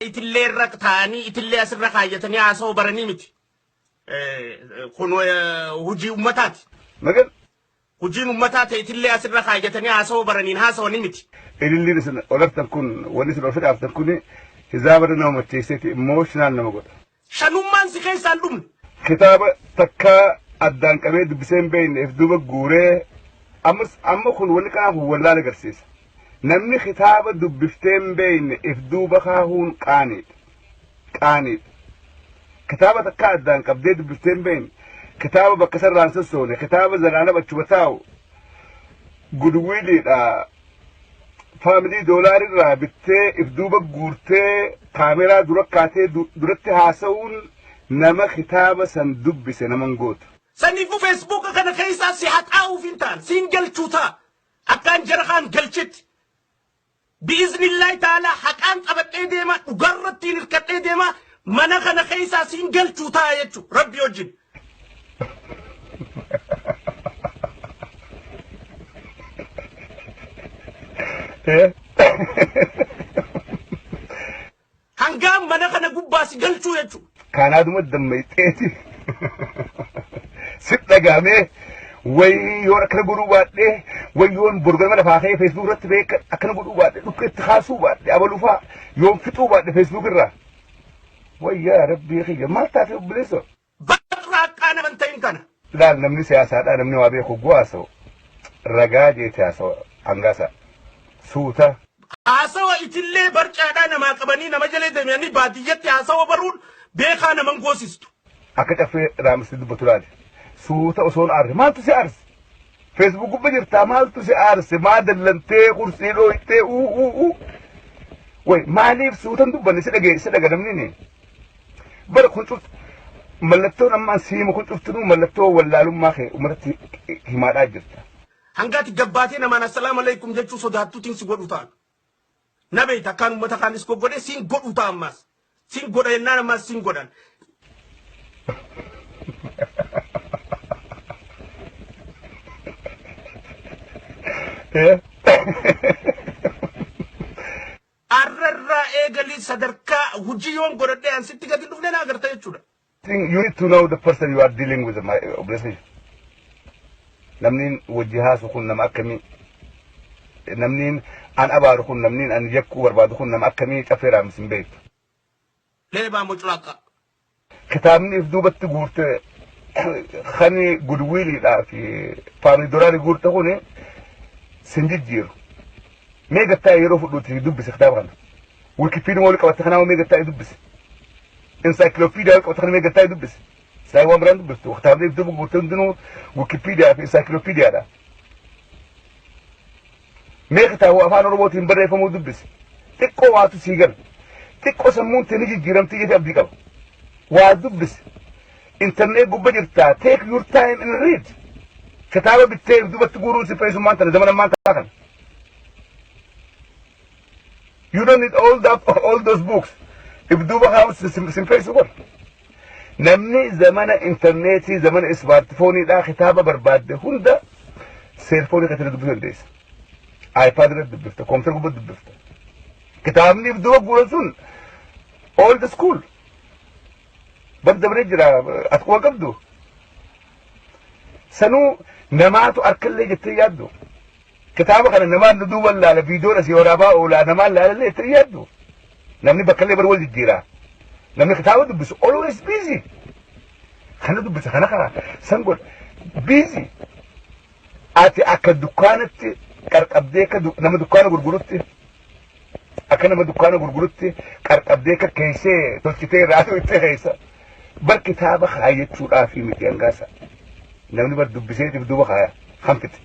itillee irra taa'anii itillee asirra kaayyatanii haasa'uu baranii miti. Kun hojii ummataati. Magan. Hojiin ummataa ta'e itillee asirra kaayyatanii haasa'uu baraniin haasa'anii miti. Ililliin isin olartan kun wanni isin ol fidhaaftan kun hizaabarra nama macheesseeti emotional nama godha. Shanummaan si keessaa hin dhumne. Kitaaba takka addaan qabee dubbisee hin beekne if duuba guuree ammas amma kun wanni kanaa kun wallaala agarsiisa. Namni kitaaba dubbiftee hin beekne if duuba kaahuun qaaniidha. Qaaniidha. Kitaaba takka addaan qabdee dubbiftee hin beekne kitaaba bakka sarraan sossoone kitaaba zalaalama achuma taa'u gudwiiliidha faamilii doolaar irraa bittee if duuba guurtee kaameraa dura kaatee duratti haasa'uun nama kitaaba san dubbise naman gootu. Saniifuu feesbuuka kana keessaa si haxaa'uuf hin ta'an siin galchuu ta'a akkaan jara kaan galchetti. Bi'iznillaahi ta'aalaa haqaan qabadhee deemaa dhugaarrattiin hirkadhee deemaa mana kana keessaa siin galchuu ta'a jechuudha rabbi wajjin. Hangaan mana kana gubbaa si galchuu jechuudha. Kaanaa duma dammayxeeti. Sit dhagaamee wayii yoon akkana godhuu baadhee wayyoon borgama lafaa ka'ee feesbuuk irratti beeka akkana godhuu baadhee dhukkee itti kaasuu baadhee abalufaa yoon fixuu baadhee feesbuuk irraa. Wayyaa rabbii kiyya maal taate obboleessa? Barraaqaa nama hin ta'in tana. Laal namni siyaasaadhaa namni waa beeku guu haasa'u ragaa jeeti haasa'u hangaasa suuta. Haasawa itillee barcaadhaa namaa qabanii nama jalee deemanii baadiyyatti haasawa baruun beekaa naman goosistu. Akka caffee raamsitee dubbatu laali. Suuta osoon aarse maaltu si aarse? Facebook gubba jirtaa maaltu si aarse maa dallantee kursii dhooytee uu uu uu way maaliif suutan dubbanne si dhagee si dhaga namni ni bara kun cuftu mallattoon ammaan siima kun cuftunuu mallattoo wallaalummaa kee umarratti himaadhaa jirta. Hangaati gabbaatee namaan assalaamu alaikum jechuu sodaattuutiin si godhu taana. Na beekta akkaan uummata kaan is goggodhe siin godhu ta'a ammaas. Siin godha jennaan ammaas siin godhan. Arrarraa eegalii sadarkaa hojii yoon godhadhee an sitti gadi hin dhufne na agarta jechuudha. think you need to know the person you are dealing with my obviously namniin wajji haasu kun nama akkamii namniin an abaaru kun namniin an yakkuu barbaadu kun nama akkamii cafeeraa misin beektu Leebaa muculaqa. kitaabni if duubatti guurte kani gudwiiliidhaa fi faamilii doraari guurte kun sin jijjiiru mee gattaa yeroo fudhuuti dubbise kitaaba kana Wikipedia wali qabata kana wamee gataa dubbisi. Encyclopedia wali qabata kana wamee gataa dubbisi. Saayii waan biraan dubbistu. Kitaabni iddoo gurgurte hundinuu Wikipedia fi Encyclopedia dha. Mee kitaaba afaan Oromootiin barreeffamuu dubbisi. Xiqqoo waatu sii gala. Xiqqoo sammuun tee ni jijjiiramtee jedhee abdii qaba. Waa dubbisi. Internet gubba jirtaa. Take your time and read. Kitaaba bittee dubatti guuruun si fayyisummaan tana zaman ammaan tana kana. You don't need all that all those books. If duuba kaa'u simfeessu kun. Namni zamana intarneetii zamana ismaartifooniidhaa kitaaba barbaadde hunda seelfoonii kan dubbisuu dandeessa. iPad irratti dubbifta, koompitara gubbaa dubbifta. Kitaabni if duuba guuran sun all the school. Bar dabaree jira as quba qabdu. Sanuu namaatu harkallee jettee yaaddu. Kitaaba kana namaan nu duuban laala viidiyoon asii waraabaa oolaa namaan laalallee itti yaaddu. Namni bakkallee bar wal jijjiiraa. Namni kitaaba dubbisu always busy. Kana dubbisa kana kana san godha busy. Ati akka dukkaanatti qarqabdee akka nama dukkaana gurgurutti Akka nama dukkaana gurgurutti qarqabdee kakkeessee tolchitee irraa tuuttee keessa. Bar kitaaba kaayyachuudhaaf miti hangaasa. Namni bar dubbiseetiif duuba kaaya. Kan fite.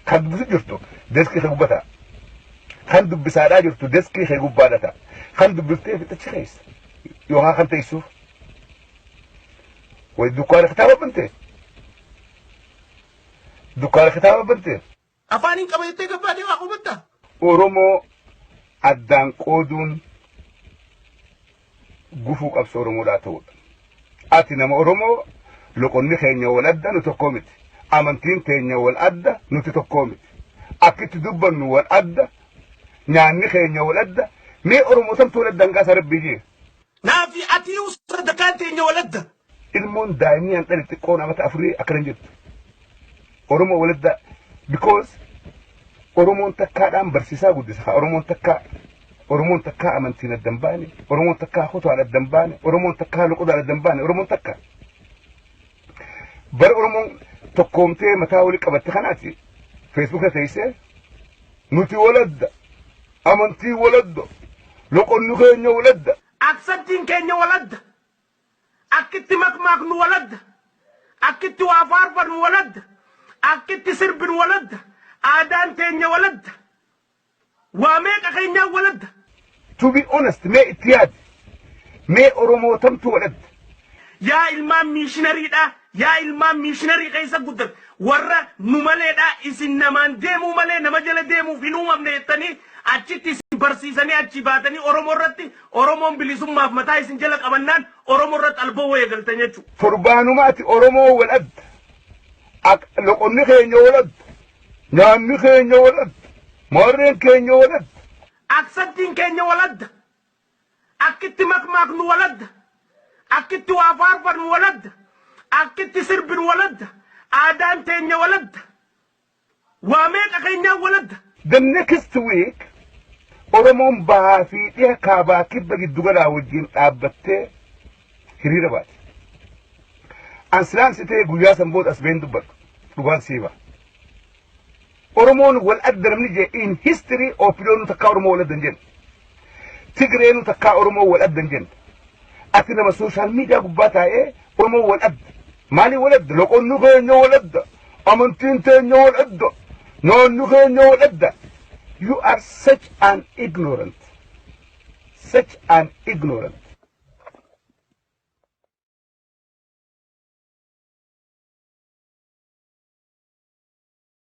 Kan dubbisu jirtu deskii kee gubbata. Kan dubbisaadhaa jirtu deskii kee gubbaadha ta'a. Kan dubbiftee fixachi keessa. Yookaan kan teessuuf. Wayi dukkaana kitaaba bantee. Dukkaana kitaaba bantee. Afaanin qaba jettee gabbaatee waa hubatta? Oromoo addaan qooduun gufuu qabsoo Oromoodhaa ta'uudha. Ati nama Oromoo loqonni keenya wal adda nu tokkoo miti. Amantiin teenya wal adda nuti tokkoo miti. Akkitti dubbannu wal adda nyaanni keenya wal adda mee Oromoo samtu wal adda hanqaasa rabbii jee. Naafi atiyuu sadarkaan teenya wal adda. Ilmoon daa'imni an dhale xiqqoon amata afurii akkana jirtu. Oromoo waladdaa because Oromoon takkaadhaan barsiisaa guddisa kaa Oromoon takkaa Oromoon takkaa amantiin adda hin baane Oromoon takkaa kutaan adda hin baane Oromoon takkaa loqodaan adda hin baane Oromoon takka bara Oromoon tokkoomtee mataa walii qabatte kanaati feesbuuka teessee nuti waladda amantii waladda loqonni keenya waladda Aksattiin keenya waladda. Akki itti makmaaknu wal adda. Akki itti waa faarfannu wal adda. Akki itti sirbinu wal adda. Aadaan teenya wal adda. Waa meeqa keenyaan wal adda. To be honest mee itti yaadi. Mee Oromoo tamtu wal adda. Yaa ilmaan miishinariidhaa Yaa ilmaan miishinarii keessa guddan warra nu maleedha isin namaan deemuu malee nama jala deemuuf hin uumamne jettanii achitti isin barsiisanii achii baatanii Oromoo irratti Oromoon bilisummaaf mataa isin jala qabannaan Oromoo irratti alboo eegaltan jechuu. Torbaanuma ati Oromoo wal adda. Ak- Loqonni keenya wal adda. Nyaanni keenya wal adda. Maarreen keenya wal adda. Aksattiin keenya wal adda. Akki itti makmaaknu wal adda. Akki itti waa faarfannu wal adda. Akki itti sirbinu wal adda. Aadaan teenya wal adda. Waa meeqa keenyaan wal adda. The next week Oromoon bahaa fi dhiha kaabaa kibba giddu galaa wajjin dhaabbattee hiriira baati. An silaan si ta'e guyyaa san booda as ba'een dubbadhu. Dhugaan si hima. Oromoon wal adda namni je in history OPDOnu takkaa Oromoo wal adda hin jenne. Tigreenu takkaa Oromoo wal adda hin jenne. Ati nama sooshaal miidiyaa gubbaa taa'ee Oromoo wal adda. Maalii wal adda? Loqonni keenya wal adda. Amantiin teenya wal adda. Naanni keenya wal adda. You are such an ignorant. Such an ignorant.